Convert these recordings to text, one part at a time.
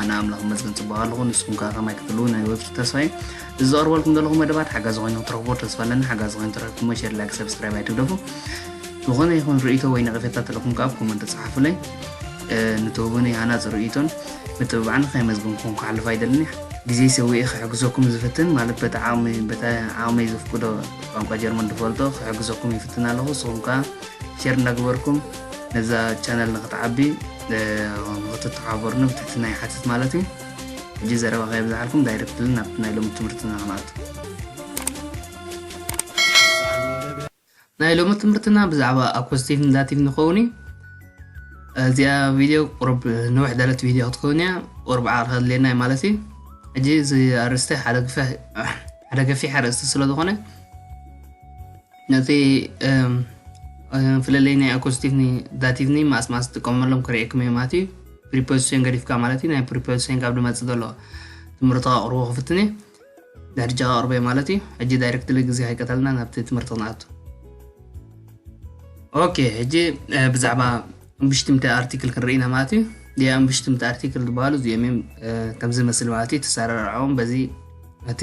ኣነ ኣምላኽ ይመስገን ጽቡቕ ኣለኹ ንስኹም ከኣ ከማይ ክትህልዉ ናይ ወትሩ ተስፋ እዩ እዚ ዘቕርበልኩም ዘለኹ መደባት ሓጋዚ ኮይኑ ክትረኽቦ ተስፋ ኣለኒ ሓጋዚ ኮይኑ ተረኪብኩሞ ሸር ላይክ ሰብስክራይብ ኣይትግደፉ ዝኾነ ይኹን ርእይቶ ወይ ነቐፌታ ተለኹም ከኣ ኮመንት ጽሓፉለይ ንትህቡኒ ሃናጽ ርእይቶን ምትብባዕን ከይመዝግንኩም ክሓልፍ ኣይደልኒ ግዜ ሰዊኤ ክሕግዘኩም ዝፍትን ማለት በቲ ዓቕሚ በቲ ዓቕመይ ዘፍቅዶ ቋንቋ ጀርመን ዝፈልጦ ክሕግዘኩም ይፍትን ኣለኹ ንስኹም ከኣ ሸር እንዳገበርኩም ነዛ ቻነል ንክትዓቢ ንክትተሓባበሩኒ ብትሕትና ይሓትት ማለት እዩ። ሕጂ ዘረባ ከየብዛሓልኩም ዳይረክትሊ ናብቲ ናይ ሎሚ ትምህርትና ክንኣቱ። ናይ ሎሚ ትምህርትና ብዛዕባ ኣኮስቲቭ ን ዳቲቭ ን ክኸውን እዩ። እዚኣ ቪድዮ ቁሩብ ንውሕ ዝበለት ቪድዮ ክትከውን እያ፣ ቁሩብ ዓቕሊ ከድልየና እዩ ማለት እዩ። ሕጂ እዚ ኣርእስቲ ሓደ ገፊሕ ኣርእስቲ ስለ ዝኾነ ነቲ ፍልልይ ናይ ኣኮስቲቭኒ ዳቲቭኒ ማስ ማስ ትጥቀመሎም ክርእየኩም እየ ማለት እዩ ፕሪፖዚሽን ገዲፍካ ማለት እዩ ናይ ፕሪፖዚሽን ካብ ድመፅእ ዘሎ ትምህርቲ ከቕርቦ ክፍትን እየ ድሕርጃ ከቕርቦ እየ ማለት እዩ ሕጂ ዳይሬክትሊ ግዜ ከይቀተልና ናብቲ ትምህርቲ ክንኣቱ ኦኬ ሕጂ ብዛዕባ እምብሽትምቲ ኣርቲክል ክንርኢ ኢና ማለት እዩ ዲያ እምብሽትምቲ ኣርቲክል ዝበሃሉ እዚኦም እዮም ከምዚ መስል ማለት እዩ ተሰራርዖም በዚ እቲ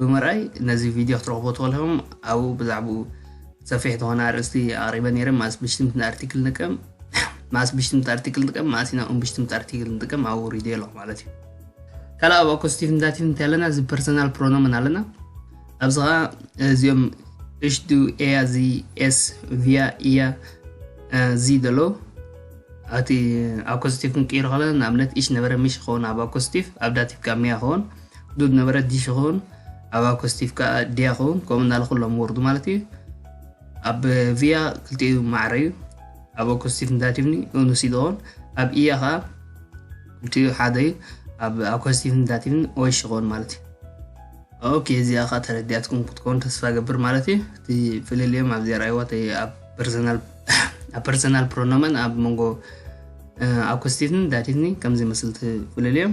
ብምርኣይ ነዚ ቪድዮ ክትረኽቡ ትኽእሉ ኢኹም። ኣብኡ ብዛዕብኡ ሰፊሕ ዝኾነ ኣርእስቲ ኣቕሪበ ነይረ፣ መኣስ ብሽትምቲ ኣርቲክል ንጥቀም፣ መኣስ ብሽትምቲ ኣርቲክል ንጥቀም፣ መኣስ ኢና ኡም ብሽትምቲ ኣርቲክል ንጥቀም ኣብኡ ኣውሪደዮ ኣለኹ ማለት እዩ። ካልእ ኣብ ኣኮስቲቭ ንዳቲቭ እንታይ ኣለና? እዚ ፐርሰናል ፕሮኖምን ኣለና። ኣብዚ ኸኣ እዚኦም እሽ ዱ ኤያ እዚ ኤስ ቪያ ኢያ እዚ ዘሎ ኣቲ ኣኮስቲቭ ክንቅይሮ ከለና ንኣብነት እሽ ነበረ ምሽ ይኸውን ኣብ ኣኮስቲቭ ኣብ ዳቲቭ ካብ ሚያ ይኸውን ዱድ ነበረ ዲሽ ይኸውን ኣብ ኣኮ ስቲቭ ከዓ ዲያ ይኸውን ከምኡ እናለ ኩሎም ወርዱ ማለት እዩ ኣብ ቪያ ክልቲኡ ማዕረ እዩ ኣብ ኣኮ ስቲቭ ንዳቲቭኒ ኡኑስ ይኸውን ኣብ ኢያ ከዓ ክልቲኡ ሓደ እዩ ኣብ ኣኮ ስቲቭ ንዳቲቭኒ ኦሽ ይኸውን ማለት እዩ ኦኬ እዚኣ ከዓ ተረዲኣትኩም ክትከውን ተስፋ ገብር ማለት እዩ እቲ ፍልልዮም ኣብዚ ርኣይዋ ኣብ ፐርሰናል ኣብ ፐርሰናል ፕሮኖመን ኣብ መንጎ ኣኮስቲቭኒ ዳቲቭኒ ከምዚ መስልቲ ፍልልዮም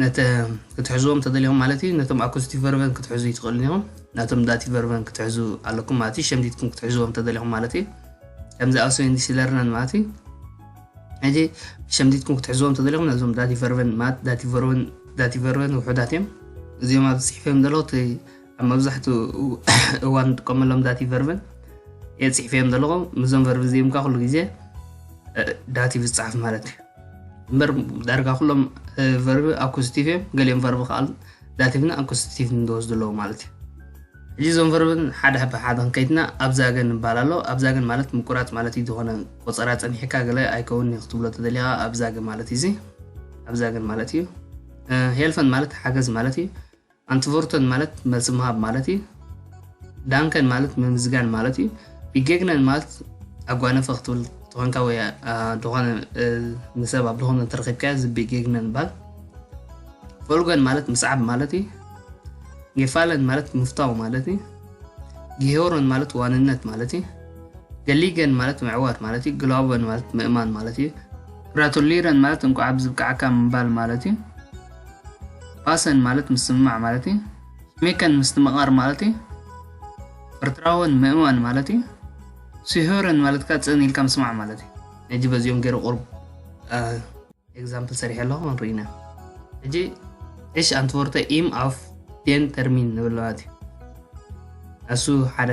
ነተ ክትሕዝዎም ተደሊኹም ማለት እዩ ነቶም ኣኩስቲ ቨርቨን ክትሕዙ ይትኽእሉን ኢኹም ነቶም ዳቲ ቨርቨን ክትሕዙ ኣለኩም ማለት እዩ ሸምዲትኩም ክትሕዝዎም ተደሊኹም ማለት እዩ ከምዚ ኣውሰን ዲሲለርነን ማለት እዩ ሕጂ ሸምዲትኩም ክትሕዝዎም ተደሊኹም ነዞም ዳቲ ቨርቨን ማለት ዳቲ ቨርቨን ዳቲ ቨርቨን ውሑዳት እዮም እዚኦም ኣብ ዝፅሒፈዮም ዘለዉ ኣብ መብዛሕትኡ እዋን ንጥቀመሎም ዳቲቭ ቨርብን እየ ፅሒፈዮም ዘለኹ ምዞም ቨርብ እዚኦም ከዓ ኩሉ ግዜ ዳቲቭ ዝፅሓፍ ማለት እዩ እምበር ዳርጋ ኩሎም ቨርብ ኣኮስቲቭ እዮም ገሊኦም ቨርብ ከዓ ዳቲቭን ኣኮስቲቭ ንዝወስዱ ኣለዎ ማለት እዩ ሕጂ እዞም ቨርብን ሓደ ሕበ ሓደ ክንከይትና ኣብዛ ገን ይባል ኣሎ ኣብዛ ገን ማለት ምቁራፅ ማለት እዩ ዝኾነ ቆፀራ ፀኒሕካ ገለ ኣይከውን እዩ ክትብሎ ተደሊኻ ኣብዛ ገ ማለት እዩ እዚ ኣብዛ ገን ማለት እዩ ሄልፈን ማለት ሓገዝ ማለት እዩ ኣንትቮርተን ማለት መልሲ ምሃብ ማለት እዩ። ዳንከን ማለት ምምዝጋን ማለት እዩ። ቢጌግነን ማለት ኣጓነፈ ክትብል ተኾንካ ወይ ዝኾነ ንሰብ ኣብ ዝኾነ እንተረኺብካዮ እዚ ቢጌግነን ይባል ፎልጎን ማለት ምስዓብ ማለት እዩ። ጌፋለን ማለት ምፍታው ማለት እዩ። ጊሄሮን ማለት ዋንነት ማለት እዩ። ገሊገን ማለት ምዕዋት ማለት እዩ። ግላውበን ማለት ምእማን ማለት እዩ። ግራቱሊረን ማለት እንቋዕ ብዝብቃዕካ ምባል ማለት እዩ። ፓሰን ማለት ምስምማዕ ማለት እዩ ሽሜከን ምስትምቓር ማለት እዩ ፍርትራወን ምእማን ማለት እዩ ሲሆረን ማለት ከዓ ፅን ኢልካ ምስማዕ ማለት እዩ ሕጂ በዚኦም ገይረ ቁርብ ኤግዛምፕል ሰሪሐ ኣለኹ ንርኢና ሕጂ ዕሽ ኣንትወርተ ኢም ኣፍ ዴን ተርሚን ንብል ማለት እዩ እሱ ሓደ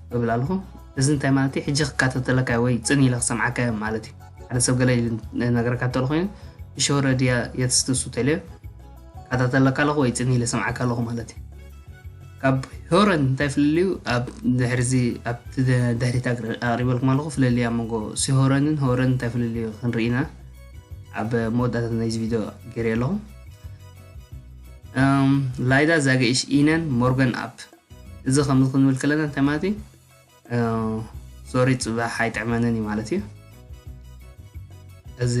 እብል ኣለኹ እዚ እንታይ ማለት እዩ ሕጂ ክከታተለካ እዩ ወይ ጽን ኢለ ክሰምዓካ እዮም ማለት እዩ ሓደ ሰብ ገለ ኢሉ ነገረካ እንተሎ ኮይኑ ብሸውረ ድያ የትስትሱ ተልዮ ከታተለካ ኣለኹ ወይ ጽን ኢለ ሰምዓካ ኣለኹ ማለት እዩ ካብ ሆረን እንታይ ፍልልዩ ኣብ ድሕሪዚ ኣብቲ ድሕሪት ኣቕሪበልኩም ኣለኹ ፍልልያ መንጎ ሲሆረንን ሆረን እንታይ ፍልልዩ ክንርኢና ኣብ መወዳእታ ናይዚ ቪድዮ ገይረ ኣለኹ ላይዳ ዛገኢሽ ኢነን ሞርገን ኣፕ እዚ ከምዚ ክንብል ከለና እንታይ ማለት እዩ ሶሪ ጽባሕ ኣይጥዕመንን እዩ ማለት እዩ እዚ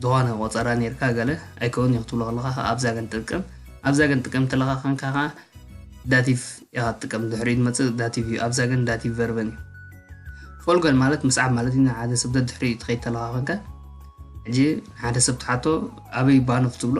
ዝኾነ ቆጸራ ነርካ ገለ ኣይከውን እዩ ክትብሎ ከለካ ከዓ ኣብዛ ገን ጥቅም ኣብዛ ገን ጥቅም ተለካ ከንካ ከዓ ዳቲቭ ኢኻ ትጥቀም ድሕሪኡ ዝመፅእ ዳቲቭ እዩ ኣብዛ ገን ዳቲቭ ቨርበን እዩ ፎልገን ማለት ምስዓብ ማለት እዩ ሓደ ሰብ ደድሕሪኡ ትኸይድ ተለካ ከንካ ሕጂ ሓደ ሰብ ትሓቶ ኣበይ ባኑ ክትብሎ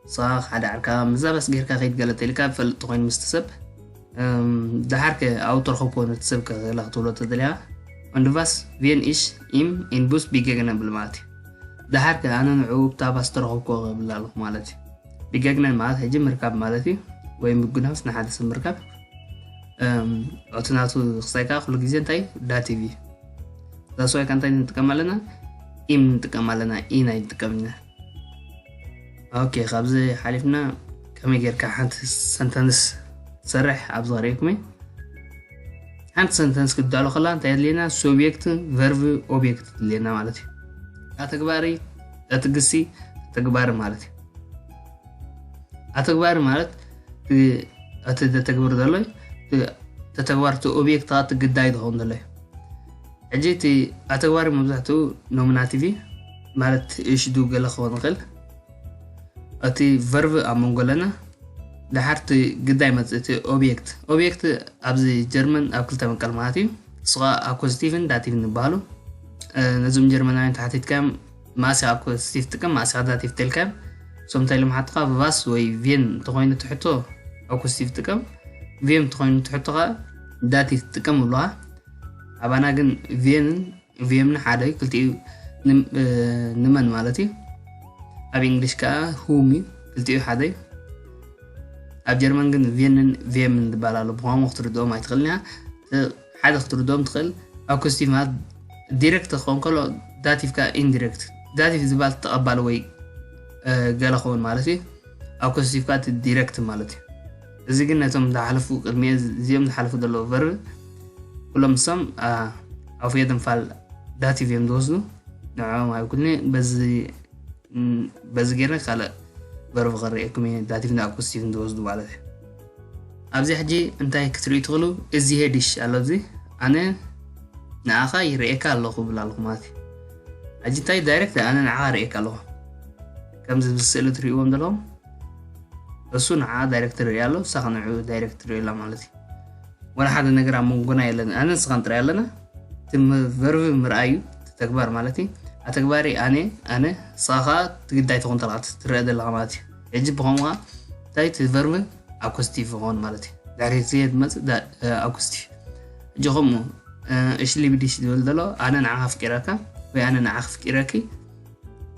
ጸቓቕ ሓደ ዓርካ ምዛ በስ ጌርካ ከይድ ገለ ተልካ ዝፈልጥ ተኾይኑ ምስቲ ሰብ ደሓር ከ ኣብኡ ተረኸብኮ ነቲ ሰብ ከላ ክትብሎ ተደልያ Und was ቪን ich ኢም ኢን ቡስ ቢገግነን ብል ማለት እዩ ደሓር ከ ኣነ ንዕኡ ብታ ባስ ተረኸብኮ ክብል ኣለኹ ማለት እዩ ቢገግነን ማለት ሕጂ ምርካብ ማለት እዩ ወይ ምጉናስ ንሓደ ሰብ ምርካብ እቲ ናቱ ክሳይ ከዓ ኩሉ ግዜ እንታይ ዳቲቭ እዩ ዛስዋይ ከዓ እንታይ ንጥቀም ኣለና ኢም ንጥቀም ኣለና ኢ ናይ ንጥቀም ኢና ኦኬ ካብዚ ሓሊፍና ከመይ ጌርካ ሓንቲ ሰንተንስ ትሰርሕ ኣብ ዝቐሪብኩም እዩ ሓንቲ ሰንተንስ ክዳሎ ከላ እንታይ የድልየና ሱብየክት ቨርቭ ኦብየክት ትድልየና ማለት እዩ ኣተግባሪ እቲ ግሲ ተግባሪ ማለት እዩ ኣተግባሪ ማለት እቲ ዘተግብር ዘሎ ተተግባር እቲ ኦብየክት ከዓ እቲ ግዳይ ዝኸውን ዘሎ እዩ ሕጂ እቲ ኣተግባሪ መብዛሕትኡ ኖሚናቲቭ እዩ ማለት እሽዱ ገለ ክኸውን ይኽእል እቲ ቨርቭ ኣብ መንጎ ኣለና ደሓር እቲ ግዳይ መፅእ እቲ ኦብየክት ኦብየክት ኣብዚ ጀርመን ኣብ ክልተ መቀል ማለት እዩ ንሱ ከዓ ኣኮዚቲቭን ዳቲቭን ይበሃሉ ነዞም ጀርመናውያን ተሓቲትካዮም ማእሲኻ ኣኮዚቲቭ ትጥቀም ማእሲኻ ዳቲቭ ተልካዮም እሶም እንታይ ኢሎም ሓትኻ ቫስ ወይ ቬን እንተኮይኑ ትሕቶ ኣኮዚቲቭ ትጥቀም ቬም እንተኮይኑ ትሕቶ ከዓ ዳቲቭ ትጥቀም ብለኻ ኣባና ግን ቬንን ቪም ን ሓደ ክልቲኡ ን መን ማለት እዩ ኣብ እንግሊሽ ከዓ ሁም እዩ ክልቲኡ ሓደ እዩ ኣብ ጀርመን ግን ቪንን ቪምን ዝበሃል ኣሎ ብቋንቋ ክትርድኦም ኣይትኽእልን እያ ሓደ ክትርድኦም ትኽእል ኣኩስቲቭ ማለት ዲሬክት ክኸውን ከሎ ዳቲቭ ከዓ ኢንዲሬክት ዳቲቭ ዝበሃል ተቐባሊ ወይ ገለ ክኸውን ማለት እዩ ኣኩስቲቭ ከዓ ዲሬክት ማለት እዩ እዚ ግን ነቶም ዝሓለፉ ቅድሚ እዚኦም ዝሓለፉ ዘለዉ ቨርብ ኩሎም ንሶም ኣውፍዮ ድንፋል ዳቲቭ እዮም ዝወስዱ ንዕኦም ኣይኩልኒ በዚ ገይረ ካልእ ቨርብ ክርእየኩም እየ ዳቲቭን ኣኩስቲቭን ዝወስዱ ማለት እዩ ኣብዚ ሕጂ እንታይ ክትርእዩ ትኽእሉ እዚ ሄዲሽ ኣሎ እዚ ኣነ ንኣኻ ይርእየካ ኣለኹ ብላ ኣለኹ ማለት እዩ ሕጂ እንታይ ዳይሬክት ኣነ ንዓኻ ርእየካ ኣለኹ ከምዚ ኣብዚ ስእሊ እትርእይዎም ዘለኹም እሱ ንዓ ዳይሬክተር ይሪኣ ኣሎ ንሳ ከ ንዕኡ ዳይሬክት ትሪኦ ኣላ ማለት እዩ ወላ ሓደ ነገር ኣብ መንጎና የለን ኣነ ንስኻን ጥራይ ኣለና እቲ ቨርቢ ምርኣዩ እቲ ተግባር ማለት እዩ ኣተግባሪ ኣነ ኣነ ንስኻ ከዓ ትግዳይ ትኾን ተለካ ትረአ ዘለካ ማለት እዩ ሕጂ ብኸምኡ ከዓ እንታይ እቲ ቨርቢ ኣኮስቲቭ ይኸውን ማለት እዩ ድሕሪ ግዜ ዝመፅእ ኣኮስቲቭ ሕጂ ከምኡ እሽ ሊቢዲሽ ዝብል ዘሎ ኣነ ንዓኻ ኣፍቂረካ ወይ ኣነ ንዓኽ ኣፍቂረኪ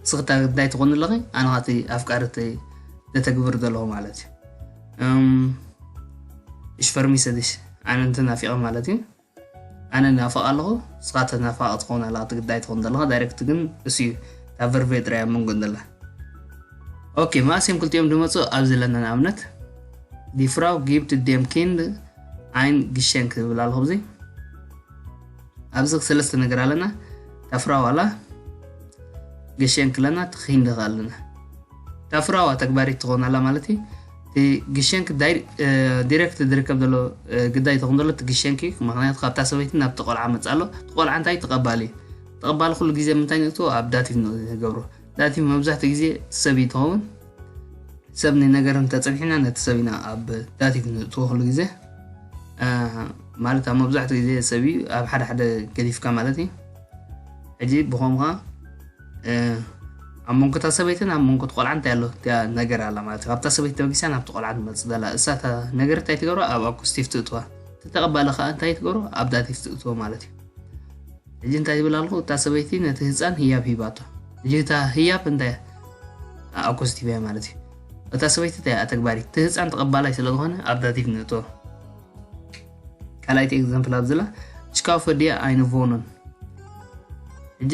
ንስኺ እታ ግዳይ ትኾኒ ኣለኺ ኣነ ኸኣ እቲ ኣፍቃሪ እቲ ዘተግብር ዘለኹ ማለት እዩ እም፣ እሽ ፈርሚሰድሽ ኣነ እንተ ናፊቐ ማለት እዩ ኣነ ናፍቕ ኣለኹ ንስኻ ተናፋቕ ትኸውን ኣለኻ እቲ ግዳይ ትኾን ዘለኻ ዳይሬክት ግን እሱ እዩ እታ ቨርቨ ጥራይ ኣብ መንጎ ዘላ ኦኬ መኣስ እዮም ክልቲኦም ዝመፁ ኣብዚ ኣለና ንኣብነት ዲፍራው ጊብት ዴም ኪንድ ኣይን ግሸን ክብል ኣለኹ እዚ ኣብዚ ሰለስተ ነገር ኣለና ታፍራዋላ ገሸን ክለና ተኺንደኽ ኣለና ታፍራዋ ተግባሪት ትኾን ኣላ ማለት እዩ እቲ ግሸንኪ ዲሬክት ዝርከብ ዘሎ ግዳይ ተኹን ዘሎ እቲ ግሸንኪ ምክንያቱ ካብታ ሰበይቲ ናብ ተቆልዓ መፅ ኣሎ ተቆልዓ እንታይ ተቐባሊ እዩ ተቐባሊ ኩሉ ግዜ ምንታይ ንእትዎ ኣብ ዳቲቭ ንገብሮ ዳቲቭ መብዛሕትኡ ግዜ ሰብ እዩ ትኸውን ሰብ ንነገር እንተፀኒሕና ነቲ ሰብ ኢና ኣብ ዳቲቭ ንእትወክሉ ግዜ ማለት ኣብ መብዛሕትኡ ግዜ ሰብ እዩ ኣብ ሓደ ሓደ ገዲፍካ ማለት እዩ ሕጂ ብኸምኻ ኣብ መንጎታ ሰበይትን ኣብ መንጎት ቆልዓ እንታይ ኣሎ እቲያ ነገር ኣላ ማለት እዩ ካብታ ሰበይቲ ተበጊሳ ናብቲ ቆልዓ ትመፅእ ዘላ እሳታ ነገር እንታይ ትገብሮ ኣብ ኣኩስቲፍ ትእትዋ ተተቐባሊ ከዓ እንታይ ትገብሮ ኣብ ዳቲፍ ትእትዎ ማለት እዩ ሕጂ እንታይ ይብል ኣልኹ እታ ሰበይቲ ነቲ ህፃን ህያብ ሂባቶ ሕጂ እታ ህያብ እንታይ ኣኮስት ሂባያ ማለት እዩ እታ ሰበይቲ እንታይ ኣተግባሪት እቲ ህፃን ተቐባላይ ስለ ዝኾነ ኣብ ዳቲቭ ንእቶ ካልኣይቲ ኤግዛምፕል ኣብዝላ እሽካው ፈድያ ኣይንቮኖን ሕጂ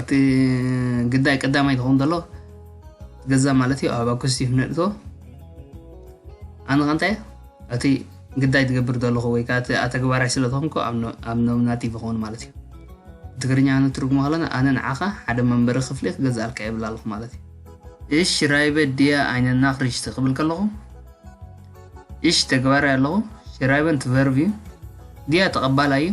እቲ ግዳይ ቀዳማይ ዝኸውን ዘሎ ገዛ ማለት እዩ ኣብ ኣኩስቲ ነእቶ ኣነ ከንታይ እቲ ግዳይ ትገብር ዘለኹ ወይ ከዓ እቲ ኣተግባራይ ስለ ዝኾንኩ ኣብ ኖምናቲ ዝኸውን ማለት እዩ ትግርኛ ንትርጉሞ ከለና ኣነ ንዓኻ ሓደ መንበሪ ክፍሊ ክገዛእልካ የብላ ኣለኹ ማለት እዩ እሽ ራይበ ድያ ዓይነና ክርሽቲ ክብል ከለኹ እሽ ተግባራይ ኣለኹ ሽራይበን ትቨርብ እዩ ድያ ተቐባላይ እዩ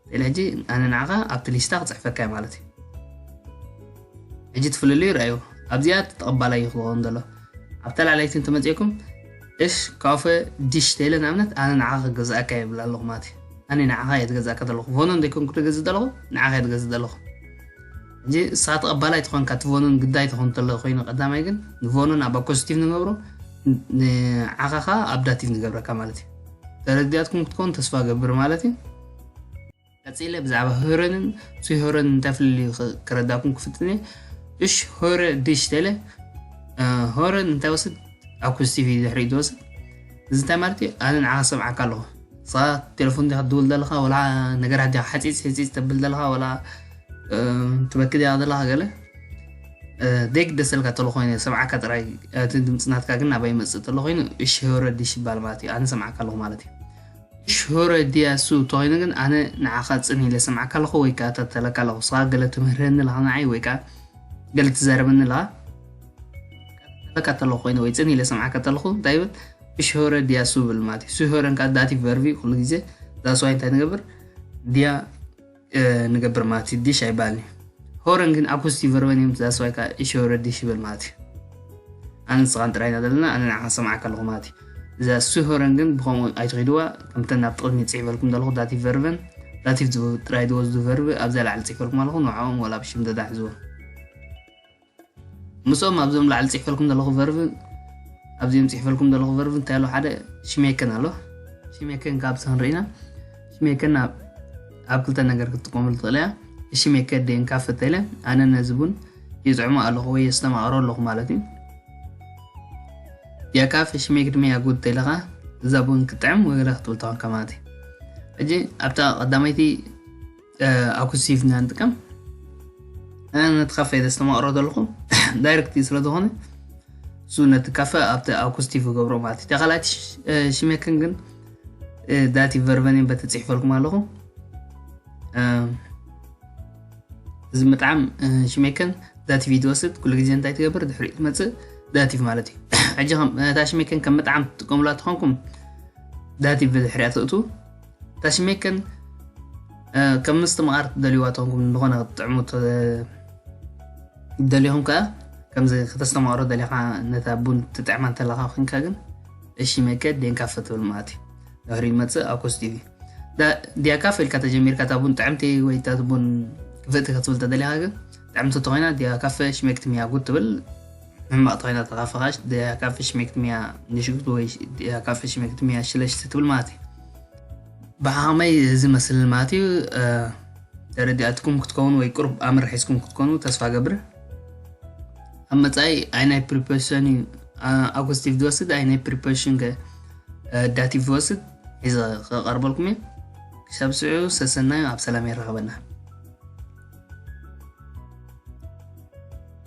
ስለ ሕጂ ኣነ ንዓኻ ኣብቲ ሊስታ ክጽሕፈካ እየ ማለት እዩ። ሕጂ እቲ ፍልልዩ ርኣዩ። ኣብዚኣ እቲ ተቐባላይ እዩ ክኸውን ዘሎ። ኣብታ ላዕለይቲ እንተመጺእኩም እሽ ካፈ ዲሽ ተይለ ንኣብነት ኣነ ንዓኻ ክገዝኣካ እየ እብል ኣለኹ ማለት እዩ። ኣነ ንዓኻ እየ ዝገዝኣካ ዘለኹ። ቮኖን ዘይኮንኩ ድገዝእ ዘለኹ ንዓኻ እየ ድገዝእ ዘለኹ። ሕጂ ንስኻ ተቐባላይ ተኾንካ እቲ ቮኖን ግዳይ ተኾን ተሎ ኮይኑ ቀዳማይ ግን ንቮኖን ኣብ ኣኮስቲቭ ንገብሮ ንዓኻ ከኣ ኣብ ዳቲቭ ንገብረካ ማለት እዩ። ተረዲኣትኩም ክትኮን ተስፋ እገብር ማለት እዩ። ቀጺለ ብዛዕባ ህረንን ስሆረን እንታይ ፍልልዩ ክረዳኩም ክፍትን እየ እሽ ሆረ ድሽ ተለ ሆረን እንታይ ወስድ ኣኩስቲቪ ድሕሪ ዝወስድ እዚ እንታይ ማለት እዩ ኣነ ንዓኻ ሰምዓካ ኣለኹ ንስኻ ቴሌፎን ዲኻ ትድውል ዘለኻ ወላ ነገራት ዲኻ ሓፂፅ ሕፂፅ ተብል ዘለኻ ወላ ትበኪ ዲኻ ዘለኻ ገለ ዘይግደሰልካ ተሎ ኮይኑ ሰምዓካ ጥራይ እቲ ድምፂ ናትካ ግን ናባይ ይመፅእ ተሎ ኮይኑ እሽ ሆረ ድሽ ይባል ማለት እዩ ኣነ ሰምዓካ ኣለኹ ማለት እዩ ሽሆረ ዲያ እሱ እተኾይኑ ግን ኣነ ንዓኻ ጽን ኢለ እሰምዓካ ኣለኹ ወይ ከኣ እከታተለካ ኣለኹ እስኻ ገለ ትምህረኒ ኣለኻ ንዓይ ወይ ከኣ ገለ ትዛረበኒ ኣለኻ እከታተለካ ተለኹ ኮይነ ወይ ጽን ኢለ እሰምዓካ ተለኹ እንታይ ይብል ብሽሆረ ዲያ እሱ ይብል ማለት እዩ ስሆረን ከኣ ዳቲቭ ቨርቭ እዩ ኩሉ ግዜ ዛስዋይ እንታይ ንገብር ዲያ ንገብር ማለት እዩ ዲሽ ኣይበሃልን እዩ ሆረን ግን ኣኩስቲ ቨርበን እዮም ዛስዋይ ከዓ እሾ ረዲሽ ይበል ማለት እዩ ኣነ ንስኻን ጥራይ ኢና ዘለና ኣነ ንዓኻ ሰማዕካ ኣለኹ ማለት እዩ እዛ እሱ ሆረን ግን ብከምኡ ኣይትኸድዋ ከምተን ናብ ጥቕሚ ፅሒፈልኩም ዘለኹ ዳቲቭ ቨርበን ዳቲቭ ጥራይ ዝወስዱ ቨርብ ኣብዛ ላዕሊ ፅሒፈልኩም ኣለኹ ንዕኦም ዋላ ብሽም ደዳ ሕዝዎም ምስኦም ኣብዞም ላዕሊ ፅሒፈልኩም ዘለኹ ቨርቭ ኣብዚኦም ፅሒፈልኩም ዘለኹ ቨርቭ እንታይ ኣሎ ሓደ ሽሜክን ኣሎ ሽሜክን ካብ ሰንርኢና ሽሜክን ኣብ ክልተ ነገር ክትጥቀመሉ ትኽእል እያ ሽሜከ ደን ካብ ፈተለ ኣነ ነዚ ቡን ይፅዕሞ ኣለኹ ወይ የስተማቕሮ ኣለኹ ማለት እዩ ያ ካፍ ሽሜክ ድማ ያጉድ ተለኻ እዛ ቡን ክጥዕም ወገለ ክትብል ተኾንካ ማለት እዩ ሕጂ ኣብታ ቀዳመይቲ ኣኩሲቭ ኢና ንጥቀም ነቲ ካፈ ዘስተማቕሮ ዘለኹ ዳይረክት ስለዝኾነ እሱ ነቲ ካፈ ኣብቲ ኣኩስቲቭ ገብሮ ማለት እዩ ካልኣት ሽሜክን ግን ዳቲ ቨርቨኒን በቲ ፅሒፈልኩም ኣለኹ እዚ ምጥዓም ሽሜክን ዳቲቭ ይትወስድ ኩሉ ግዜ እንታይ ትገብር ድሕሪ ትመፅእ ዳቲቭ ማለት እዩ ሕጂ እታ ሽሜክን ከም ምጥዓም ትጥቀሙላ ትኾንኩም ዳቲቭ ብድሕሪያ ትእቱ ተሽሜክን ከም ምስቲ መኣር ትደልዩዋ ተንኩም ዝኾነ ክትጥዕሙ ደሊኹም ከኣ ከምዚ ከተስተማቕሮ ደሊኻ ነታ ቡን ትጥዕማ እንተለኻ ኮንካ ግን እሺ መከ ዴንካ ፈትብል ማለት እዩ ድሕሪ ይመፅእ ኣኮስ ቲቪ ዲያካ ፈልካ ተጀሚርካ እታ ቡን ጥዕምቲ ወይ እታ ቡን ክፍእቲ ክትብል ተደሊኻ ግን ጥዕምቲ ተኮይና ዲያ ካፈ ሽሜክቲ ሚያጉ ትብል ሕማቅ ተኮይና እታ ፈካሽ ድያ ካብ ፈሽሜክትሚያ ንሽግቱ ወይ ድያ ካብ ፈሽሜክትሚያ ሽለሽቲ ትብል ማለት እዩ ብሓክመይ እዚ መስልኒ ማለት እዩ ተረዲኣትኩም ክትከውን ወይ ቁርብ ኣምር ሒዝኩም ክትኮኑ ተስፋ ገብር ኣብ መጻኢ ኣይ ናይ ፕሪፐሽን እዩ ኣኩስቲቭ ዝወስድ ኣይ ናይ ፕሪፐሽን ከ ዳቲቭ ዝወስድ ሒዘ ከቀርበልኩም እዩ ክሳብ ስዑ ሰሰናዩ ኣብ ሰላም የራኸበና